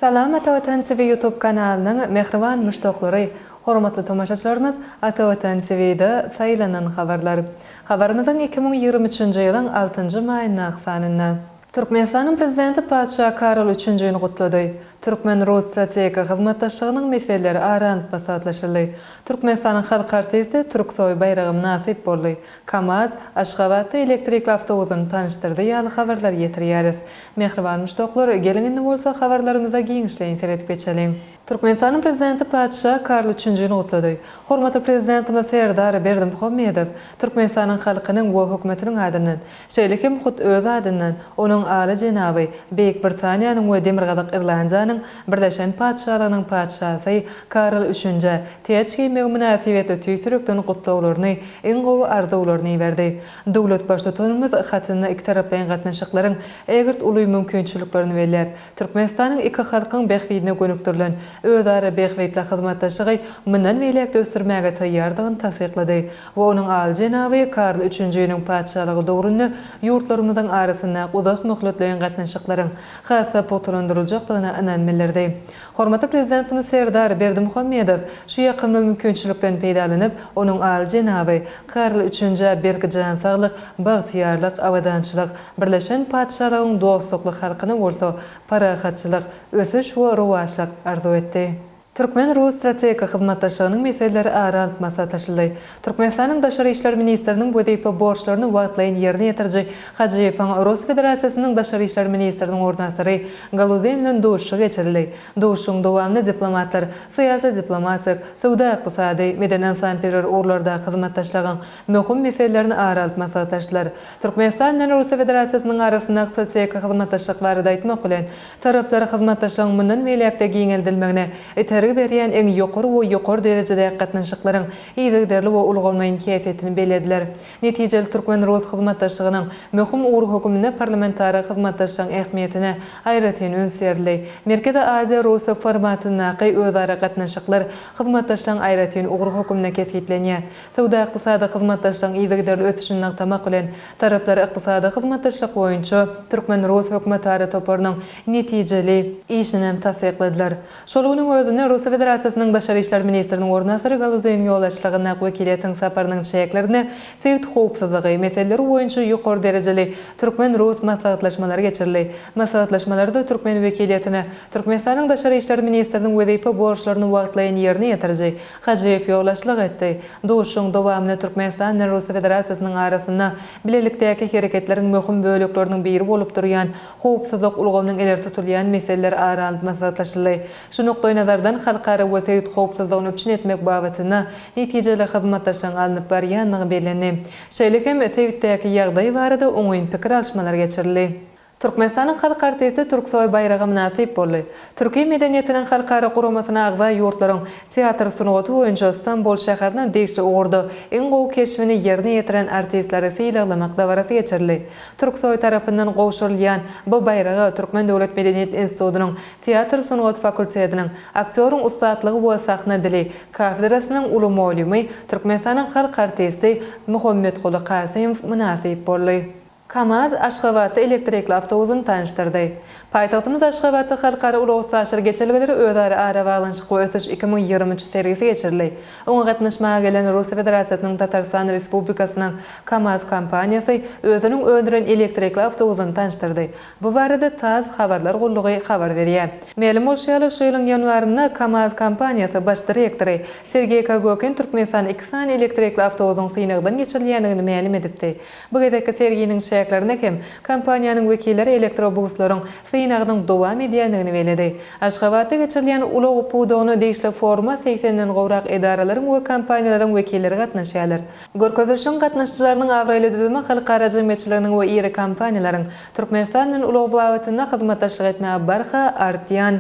Salam Atavatan TV YouTube kanalynyň mähriban muşdaklary, hormatly tomaşaçylarymyz Atavatan TVda saýlanan habarlar. Habarymyzyň iki müň ýigrimi üçünji ýylyň altynjy maýyndaky sanynda. Türkmenistanyň Prezidenti Patyşa Karol Üçünjini gutlady. Türkmen-rus strategik hyzmatdaşlygynyň meseleleri ara alnyp maslahatlaşyldy. Türkmenistanyň halk artisti Türksoý baýraga mynasyp boldy. KAMAZ, Aşgabatda elektrikli awtobusyny tanyşdyrdy ýaly habarlary ýetirýäris. Mähriban muşdaklar, geliň indi bolsa habarlarymyza giňişleýin seredip geçeliň. Türkmenistanyň Prezidenti Patyşa Karol Üçünjini gutlady. Hormatly Prezidentimiz Serdar Berdimuhamedow Türkmenistanyň halkynyň we Hökümetiniň adyndan, Şeýle hem hut öz adyndan onuň Aly jenaby Beýik Britaniýanyň we Demirgazyk Irlandiýanyň Birleşen Patyşalygynyň Patyşasy Karl Üçünjä täç geýmegi mynasybetli tüýs ýürekden gutlaglaryny, iň gowy arzuwlaryny iberdi. Döwlet Baştutanymyz hatynda ikitaraplaýyn gatnaşyklaryň ägirt uly mümkinçiliklerini belläp, Türkmenistanyň iki halkyň bähbidine gönükdirilen özara bähbitli hyzmatdaşlygy mundan beýläk-de ösdürmäge taýýardygyny tassyklady we onuň Aly jenaby Karl Üçünjiniň Patyşalygy döwründe ýurtlarymyzyň arasynda uzak möhletleýin gatnaşyklaryň has-da pugtalandyryljakdygyna ynam bildirdi. Hormatly Prezidentimiz Serdar Berdimuhamedow şu ýakymly mümkinçilikden peýdalanyp, onuň Aly jenaby Karl Üçünjä berk jan saglyk, bagtyýarlyk, abadançylyk, Birleşen Patyşalygyň dostlukly halkyna bolsa parahatçylyk, ösüş we rowaçlyk arzuw etdi. Türkmen-rus strategik hyzmatdaşlygynyň meseleleri ara alyp maslahatlaşyldy. Türkmenistanyň Daşary işler ministriniň wezipe borçlaryny wagtlaýyn ýerine ýetiriji Hajiýewiň Rus Federasiýasynyň Daşary işler ministriniň orunbasary Galuzin bilen duşuşygy geçirildi. Duşuşygyň dowamynda diplomatlar syýasy-diplomatik, söwda-ykdysady, medeni-ynsanperwer ugurlardaky hyzmatdaşlygyň möhüm meselelerini ara alyp maslahatlaşdylar. Türkmenistan bilen Russiýa Federasiýasynyň arasyndaky strategik hyzmatdaşlyk barada aýtmak bilen, taraplar hyzmatdaşlygyň mundan beýläk-de giňeldilmegine itergi berýän iň ýokary we ýokary derejedäki gatnaşyklaryň yzygiderli we ulgamlaýyn häsiýetini bellediler. Netijeli türkmen-rus hyzmatdaşlygynyň möhüm ugry höküminde parlamentara hyzmatdaşlygyň ähmiýetine aýratyn üns berildi. Merkezi Aziýa-Russiýa formatyndaky özara gatnaşyklar hyzmatdaşlygyň aýratyn ugry höküminde kesgitlenýär. Söwda-ykdysady hyzmatdaşlygyň yzygiderli ösüşini nygtamak bilen, taraplar ykdysady hyzmatdaşlyk boýunça türkmen-rus hökümetara toparynyň netijeli işini hem tassykladylar. Şol günüň özünde Russiýa Federasiýasynyň Daşary işler ministriniň orunbasary Galuzeýiň ýolbaşçylygyndaky wekiliýetiň saparynyň çäklerinde sebit howpsuzlygy meseleleri boýunça ýokary derejeli türkmen-rus maslahatlaşmalary geçirildi. Maslahatlaşmalarda türkmen wekiliýetine Türkmenistanyň Daşary işler ministriniň wezipe borçlaryny wagtlaýyn ýerine ýetiriji Hajyýew ýolbaşçylyk etdi. Duşuşygyň dowamynda Türkmenistan bilen Russiýa Federasiýasynyň arasynda bilelikdäki hereketleriň möhüm bölekleriniň biri bolup durýan howpsuzlyk ulgamynyň ileri tutulýan meseleleri ara alnyp maslahatlaşyldy. Şu nukdaýnazardan, halkara we sebit howpsuzlygyny üpjün etmek babatynda netijeli hyzmatdaşlygyň alnyp barylýandygy bellendi. Şeýle hem sebitdäki ýagdaý barada oňyn pikir alyşmalar geçirildi. Türkmenistanyň halk artisti Türksoý baýraga mynasyp boldy. Türki medeniýetiniň halkara guramasyna agza ýurtlaryň teatr sungaty boýunça Stambul şäheriniň degişli ugurda iň gowy keşbini ýerine ýetiren artistleri sylaglamak dabarasy geçirildi. Türksoý tarapyndan gowşurylýan bu baýraga Türkmen döwlet medeniýet institutynyň teatr sungaty fakultetiniň Aktýoryň ussatlygy we sahna dili kafedrasynyň uly mugallymy, Türkmenistanyň halk artisti Muhammetguly Kasymow mynasyp boldy. Kamaz Aşgabatda elektrikli awtobusyny tanyşdyrdy. Paýtagtymyz Aşgabatda Halkara ulag-üstaşyr geçelgeleri, özara arabaglanyşyk we ösüş iki müň ýigrimi üç sergisi geçirildi. Oňa gatnaşmaga gelen Russiýa Federasiýasynyň Tatarystan Respublikasynyň Kamaz kompaniýasy özüniň öndüren elektrikli awtobusyny tanyşdyrdy. Bu barada tass habarlar gullugy habar berýär. Mälim bolşy ýaly, şu ýylyň ýanwarynda Kamaz kompaniýasy baş direktory Sergeý Kagokin Türkmenistan iki sany elektrikli awtobusyň synagdan geçirilýändigini mälim edipdi. Bu gezekki serginiň çäklerinde hem kompaniýanyň wekilleri elektrobuslaryň synagynyň dowam edýändigini belledi. Aşgabatda geçirilýän ulag pudagyna degişli foruma segsen den gowrak edaralaryň we kompaniýalaryň wekilleri gatnaşýarlar. Görkezilişiň gatnaşyjylarynyň abraýly düzümi halkara jemgyýetçiliginiň we iri kompaniýalaryň Türkmenistan bilen ulag babatynda hyzmatdaşlyk etmäge barha artýan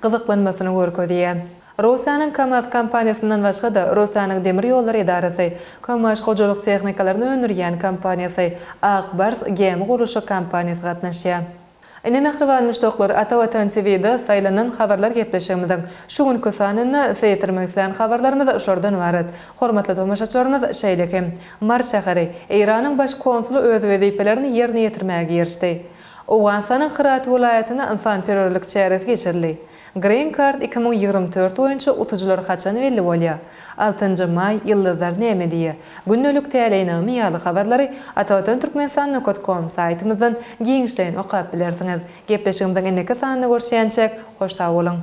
gyzyklanmasyny görkezýär. Russiýanyň KAMAZ kompaniýasyndan başga-da, Russiýanyň demir ýollary edarasy, Kömaş hojalyk tehnikalaryny öndürýän kompaniýasy, Ak bars gämi gurluşyk kompaniýasy gatnaşýar. Ine, mähriban muşdaklar, Ata Watan TV-de saýlanan habarlar gepleşigimiziň şu günki sanynda size ýetirmek isleýän habarlarymyz şolardan ybarat. Hormatly tomaşaçylarymyz, şeýle hem, Mary şäheri, Eýranyň baş konsuly öz wezipelerini ýerine ýetirmäge girişdi. Owganystanyň Hyrat welaýatynda ynsanperwerlik çäresi geçirildi. Green Card iki müň ýigrimi dört boýunça utujylar haçan belli bolýar? Altynjy maý, Ýyldyzlar näme diýýär? Gündelik täleýnama ýaly habarlary Atavatan Türkmenistan nokat kom saýtymyzdan giňişleýin okap bilersiňiz. Gepleşigimiziň indiki sanynda görüşýänçäk, hoş sag boluň!